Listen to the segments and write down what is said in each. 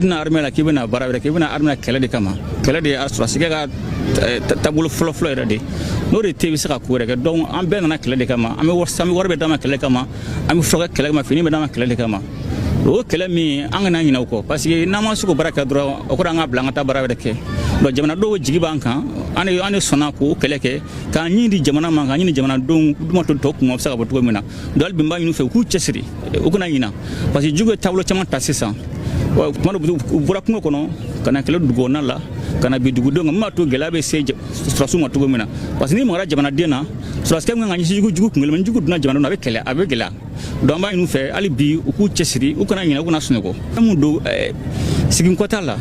tɛna armée la k'i bɛna baara wɛrɛ kɛ i bɛ na armée la kɛlɛ de kama kɛlɛ de ye sɔrɔdasikɛ ka eh, taabolo fɔlɔfɔlɔ yɛrɛ de n'o de tɛ i bɛ se ka ko wɛrɛ kɛ donc an bɛɛ nana kɛlɛ de kama an bɛ wari an bɛ wari bɛ d'an ma kɛlɛ kama an bɛ furakɛ kɛlɛ kama fini bɛ d'an ma kɛlɛ de kama o kɛlɛ min an kana ɲinɛ o kɔ parce que n'an ma se k'o baara kɛ dɔrɔn o kɔrɔ an ka bila an ka taa baara wɛrɛ kɛ donc jamanadenw jigi b'an kan an de an de sɔnna k'o kɛlɛ kɛ k'an ni di jamana ma k'an ni di jamanadenw min b'a to tɔw kun o bɛ se ka bɔ cogo min na donc hali bi n b'a ɲini u fɛ u k'u cɛsiri u kana ɲina parce que jugu ye taabolo caman ta sisan tuma dɔ u bɔra kungo kɔnɔ ka na kɛlɛ dugukɔnɔna la ka na bin dugudenw kan min b'a to gɛlɛya bɛ se sɔrɔdasiw ma cogo min na parce que n'i magara jamanaden na sɔrɔdasikɛ ka kan ka ɲɛsin jugu kunkelen ma ni jugu donna jamana na a bɛ kɛlɛ a bɛ gɛlɛya donc an b'a ɲini u fɛ hali bi u k'u cɛsiri u kana ɲinɛ u kana sunɔgɔ fɛn min don siginkɔ t'a la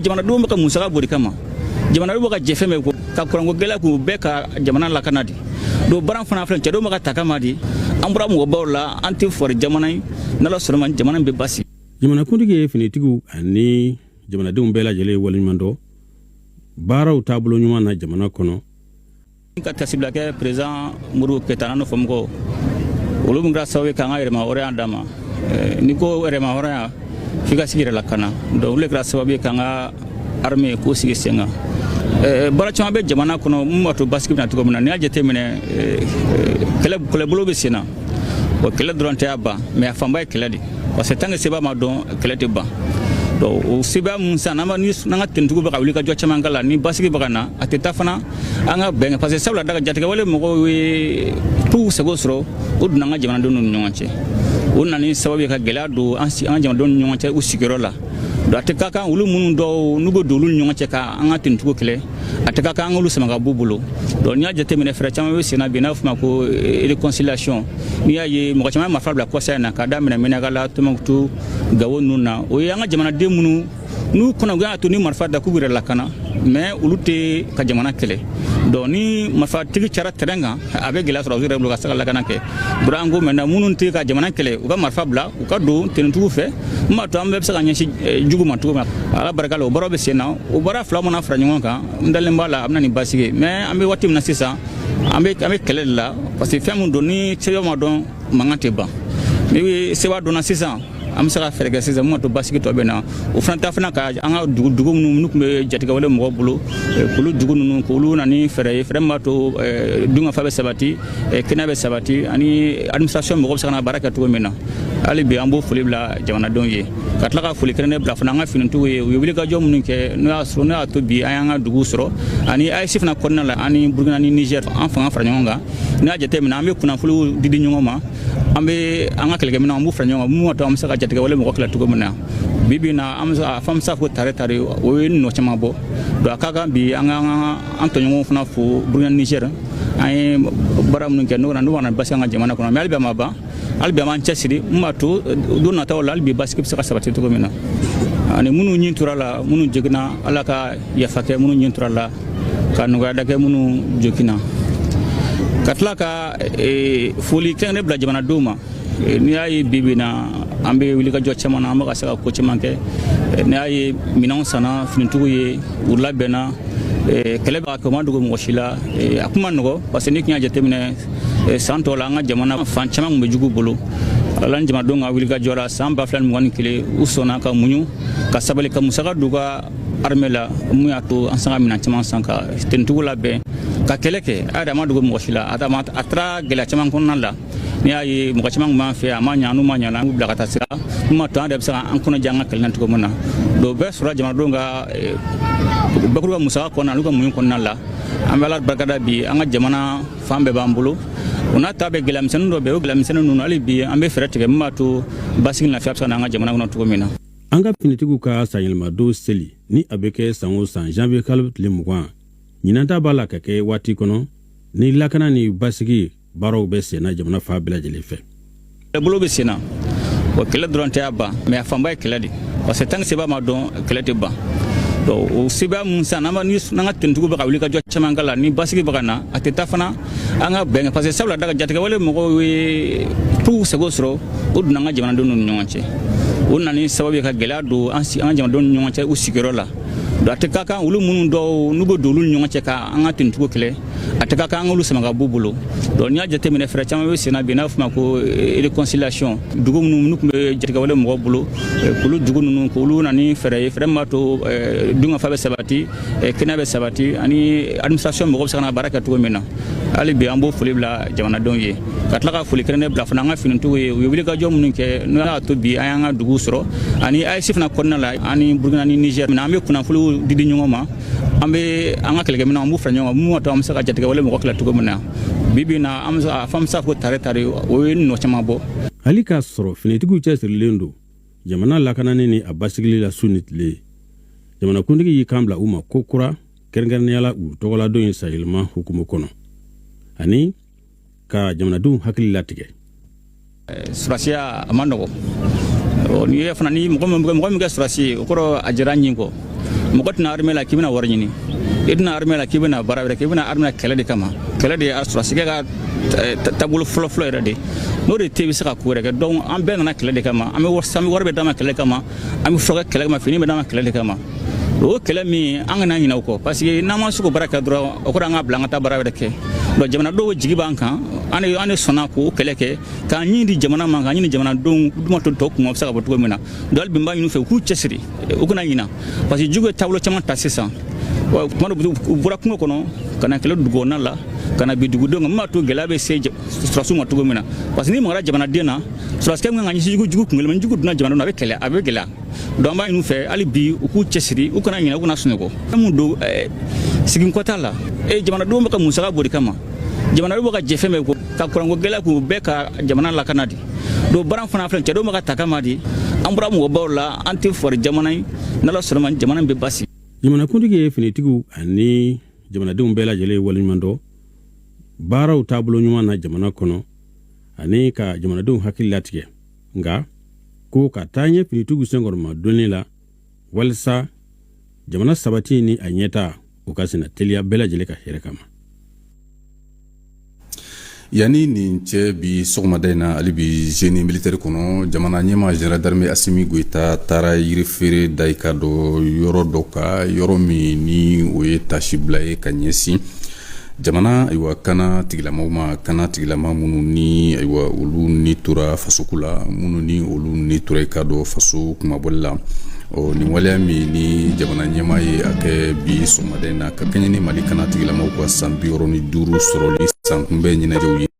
jamanadenw bɛ ka musaka bɔ o de kama jamanadenw bɛ ka jɛn fɛn bɛɛ kɔ ka kuranko gɛlɛya kun bɛɛ ka jamana lakana de donc baara fana filɛ cɛdenw bɛ ka ta kama di an bɔra mɔgɔbaw la an tɛ fɔri jamana ye n'ala sɔnn'a ma jamana bɛ basi jamanakuntigi ye finitigiw ani jamanadenw bɛɛ lajɛlen ye waleɲuman dɔn baaraw taabolo ɲuman na jamana kɔnɔ ka taasibila kɛ perezidan Modibo Keyita n'a nɔfɛmɔgɔw olu min kɛra sababu ye k'an ka yɛrɛmahɔrɔnya d'an ma eh, n'i ko yɛrɛmahɔrɔnya f'i ka se k'i yɛrɛ lakana donc olu le kɛra sababu ye k'an ka armée k'o sigi sen kan eh, eh, baara caman bɛ jamana kɔnɔ min b'a to basigi bɛ na cogo min na n'i y'a jateminɛ eh, kɛlɛ kɛlɛbolo bɛ sen na o kɛlɛ dɔrɔn t'a ban mais a fanba ye kɛlɛ de parce que tant que sebaa ma dɔn kɛlɛ tɛ ban donc o sebaa mun sisan n'an ka tenitigiw bɛ ka wulikajɔ caman k'a la ni basigi bɛ ka na a tɛ taa fana an ka bɛn kɔ parce que sabula daga jatigɛwale mɔgɔw ye u seko sɔrɔ u donna an ka jamanadenw ni ɲɔgɔn cɛ u nana ni sababu ye ka gɛlɛya don an ka jamanadenw ni ɲɔgɔn cɛ u sigiyɔrɔ la donc a tɛ ka kan olu minnu dɔw n'u bɛ don olu ni ɲɔgɔn cɛ ka an ka tenitigiw kɛlɛ a tɛ ka kan an k'olu sama ka b'u bolo donc n'i y'a jateminɛ fɛɛrɛ caman bɛ senna bi n'a fɔ ma ko eh, réconciliation n'i y'a ye mɔgɔ caman ye marifa bila kɔsa in na k'a daminɛ Menaka la tombouctou gawo ninnu na o ye an ka jamanaden minnu n'u kɔnɔgan y'a to ni marifa ta k'u yɛrɛ lakana mais olu tɛ ka jamana kɛlɛ donc ni marifatigi cara terɛn kan a bɛ gɛlɛya sɔrɔdasiw yɛrɛ bolo ka se ka lakana kɛ bɔra an ko mɛna minnu tɛ ka jamana kɛlɛ u ka marifa bila u ka don tenitigiw fɛ min b'a to an bɛɛ bɛ se ka ɲɛsin eh, jugu ma cogo min na ala barika la o baara bɛ sen na o baara fila mana fara ɲɔgɔn kan n dalen b'a la a bɛ na ni basigi ye mais an bɛ waati min na sisan an bɛ an bɛ kɛlɛ de la parce que fɛn min don ni sebaa ma dɔn mankan tɛ ban ni sebaa dɔnna sisan an bɛ se ka fɛɛrɛ kɛ sisan min b'a to basigi tɔ bɛ na o fana ta fana ka an ka dugu dugu minnu tun bɛ jatigɛwale mɔgɔ bolo k'olu dugu ninnu k'olu na ni fɛɛrɛ ye fɛɛrɛ min b'a to dunkafa bɛ sabati kɛnɛya bɛ sabati ani administration mɔgɔ bɛ se ka na baara kɛ cogo min na hali bi an b'o foli bila jamanadenw ye ka tila ka foli kɛrɛnnen bila fana an ka finitigiw ye u ye wulikajɔ minnu kɛ n'o y'a sɔrɔ n'o y'a to bi an y'an ka dugu sɔrɔ ani AES fana kɔnɔna la an ni Burukina ni Nizɛri an fanga fara ɲɔgɔn kan n'i y'a jateminɛ an bɛ kunnafoniw di di ɲɔgɔn ma an bɛ an ka kɛlɛkɛminɛnw an b'u fara ɲɔgɔn kan mun to an bɛ se ka jatigɛwale mɔgɔ kɛlɛ cogo min na bi bi na an bɛ se ka fɔ an bɛ se ka fɔ ko tare tare o ye nɔ caman bɔ donc a ka kan bi an ka an tɔɲɔgɔnw fana fo burukina nizɛr an ye baara minnu kɛ n'o na n'u kana basi an ka jamana kɔnɔ mɛ hali bi a ma ban hali bi an b'an cɛsiri mun b'a to don nataw la hali bi basigi bɛ se ka sabati cogo min na ani minnu ni tora a la minnu joginna ala ka yafa kɛ minnu ni tora a la ka nɔgɔya da kɛ minnu joginna ka tila ka Eh, foli kɛrɛnnen bila jamanadenw ma eh, n'i y'a ye bibi na an bɛ wulikajɔ caman na an bɛ ka se ka ko caman kɛ eh, n'i y'a ye minɛnw sanna finitigiw ye u labɛnna kɛlɛ b'a kɛ o ma dogo mɔgɔ si la a tun man nɔgɔ parce que n'i tun y'a jateminɛ san tɔw la an ka jamana fan caman tun bɛ jugu bolo ala ni jamanadenw ka wulikajɔ la san ba fila ni mugan ni kelen u sɔnna ka muɲu ka sabali ka musaka d'u ka armée la mun y'a to an sera ka minɛn caman san ka finitigiw labɛn ka kɛlɛ kɛ a yɛrɛ ma dogo mɔgɔ si la a taara gɛlɛya caman kɔnɔna la n'i y'a ye mɔgɔ caman b'an fɛ a ma ɲa n'u ma ɲana an bila ka taa sira n'u ma to an yɛrɛ bɛ se ka an kɔnɔja an ka kɛlɛ na cogo min na dɔw bɛɛ sɔrɔla jamanadenw ka eh, bakuruba musaka kɔnɔna n'u ka muɲu kɔnɔna la an bɛ ala barikada bi an ka jamana fan bɛɛ b'an bolo o n'a ta bɛɛ gɛlɛyamisɛnnin dɔ bɛ o gɛlɛyamisɛnnin ninnu hali bi an bɛ fɛɛrɛ tigɛ min b'a to basigi lafiya bɛ se ka na an ka jamana kɔnɔ cogo min na an ka finitigiw ka sanyɛlɛmadon seli ni a bɛ kɛ san o san janvier kalo tile mugan ɲinan ta b'a la ka kɛ waati kɔnɔ ni lakana ni basigi baaraw bɛ senna jamana fan bɛɛ lajɛlen fɛ kɛlɛbolo bɛ senna wa kɛlɛ dɔrɔn t'a ban mɛ a fanba ye kɛlɛ de parce que tant que sebaa ma dɔn kɛlɛ tɛ ban o sebaa mun san n'an ka finitigiw bɛ ka wulikajɔ caman kɛ ala ni basigi bɛ ka na a tɛ ta fana an ka bɛn parce que sabula daga jatigɛwale mɔgɔw ye puw seko sɔrɔ u donna an ka jamanadenw ni ɲɔgɔn cɛ o nana ni sababu ye ka gɛlɛya don an ka jamanadenw ni ɲɔgɔn cɛ u sigiyɔrɔ la donc a tɛ ka kan olu minnu dɔw n'u bɛ don olu ni ɲɔgɔn cɛ ka an ka finitigiw kɛlɛ a tɛ ka kan an k'olu sama ka b'u bolo donc n'i y'a jateminɛ fɛɛrɛ caman bɛ senna bi n'a fɔ ma ko eh, réconciliation dugu minnu n'u tun bɛ jatigɛwale mɔgɔw bolo eh, k'olu dugu ninnu k'olu na ni fɛɛrɛ ye fɛɛrɛ min b'a to eh, dunkafa bɛ sabati kɛnɛya bɛ sabati ani administration mɔgɔ bɛ se ka na baara kɛ cogo min na hali bi an b'o foli bila jamanadenw ye ka tila ka foli kɛrɛnnen bila fana an ka finitigiw ye u ye wulikajɔ minnu kɛ n'o y'a to bi an y'an ka dugu sɔrɔ ani AES fana kɔnɔna la ani Burukina ni Niger an bɛ kunnafoniw di di ɲɔgɔn ma an bɛ an ka kɛlɛkɛminɛnw an b'u fara ɲɔgɔn kan mun b'a to an bɛ se ka jatigɛwale mɔgɔ kɛlɛ cogo min na bi bi in na an bɛ se ka fɔ an bɛ se ka fɔ tare tare o ye nɔ caman bɔ hali k'a sɔrɔ finitigiw cɛsirilen don jamana lakanani ni a basigili la su ni tile jamanakuntigi y'i kan bila u ma ko kura kɛrɛnkɛrɛnnenya la u tɔgɔladon ye sanyɛlɛma hukumu kɔnɔ ani ka jamanadenw hakili latigɛ surasiya a man nɔgɔ n'i y'a ye fana ni mɔgɔ min kɛra surasi ye o kɔrɔ a jɛnna a ni kɔ mɔgɔ tɛ na armée la k'i bɛna wari ɲini i tɛ na armée la k'i bɛna baara wɛrɛ kɛ i bɛ na armée la kɛlɛ de kama kɛlɛ de ye sɔrɔdasikɛ ka eh, taabolo fɔlɔfɔlɔ yɛrɛ de n'o de tɛ i bɛ se ka ko wɛrɛ kɛ donc an bɛɛ nana kɛlɛ de kama an bɛ wari bɛ d'an ma kɛlɛ kama an bɛ furakɛ kɛlɛ kama fini bɛ d'an ma kɛlɛ de kama o kɛlɛ min an kana ɲinɛ o kɔ parce que n'an ma se k'o baara kɛ dɔrɔn o kɔrɔ an ka bila an ka taa baara wɛrɛ kɛ donc jamanadenw jigi b'an kan an de an de sɔnna k'o kɛlɛ kɛ k'an ni di jamana ma k'an ni di jamanadenw de ma tɔw kunma bɛ se ka bɔ cogo min na donc hali bi n b'a ɲini u fɛ u k'u cɛsiri u kana ɲina parce que jugu ye taabolo caman ta sisan tuma dɔ u bɔra kungo kɔnɔ ka na kɛlɛ dugukɔnɔna la ka na bin dugudenw kan min b'a to gɛlɛya bɛ se sɔrɔdasiw ma cogo min na parce que n'i magara jamanaden na sɔrɔdasikɛ min kan ka ɲɛsin jugu jugu kunkelen ni jugu donna jamana na a bɛ kɛlɛ a bɛ gɛlɛya donc an b'a ɲini fɛ hali bi u k'u cɛsiri u kana ɲinɛ u kana sunɔgɔ fɛn min don seginkɔ t'a la e jamanadenw bɛ ka musaka bɔ o de kama jamanadenw bɛ ka jɛ fɛn bɛɛ kɔ ka kuranko gɛlɛya kun bɛɛ ka jamana lakana de donc baara fana filɛ cɛdenw bɛ ka ta kama di an bɔra mɔgɔbaw la an tɛ fɔri jamana ye n'ala sɔnna ma jamana bɛ basigi jamanakuntigi ye finitigiw ani jamanadenw bɛɛ lajɛlen ye waleɲuman dɔn baaraw taabolo ɲuman na jamana kɔnɔ ani ka jamanadenw hakili latigɛ nka ko ka taa ɲɛ finitigiw senkɔrɔmadonni la walisa jamana sabati ni a ɲɛtaa o ka senna teliya bɛɛ lajɛlen ka hɛrɛ kama yanni nin cɛ bi sɔgɔmada in na hali bi génie militaire kɔnɔ jamana ɲɛmaa général d'armée asimi goyita taara yirifeere da i k'a dɔn yɔrɔ dɔ kan yɔrɔ min ni o ye taasibila ye ka ɲɛsin jamana ayiwa kanatigilamaw ma kanatigilama minnu ni ayiwa olu ni tora fasoko la minnu ni olu ni tora i k'a dɔn faso kunmabɔli la ɔ nin waleya min ni jamana ɲɛmaa ye a kɛ bi sɔgɔmada in na ka kɛɲɛ ni mali kanatigilamaw ka san bi wɔɔrɔ ni duuru sɔrɔli sankunbɛn ɲɛnajɛw ye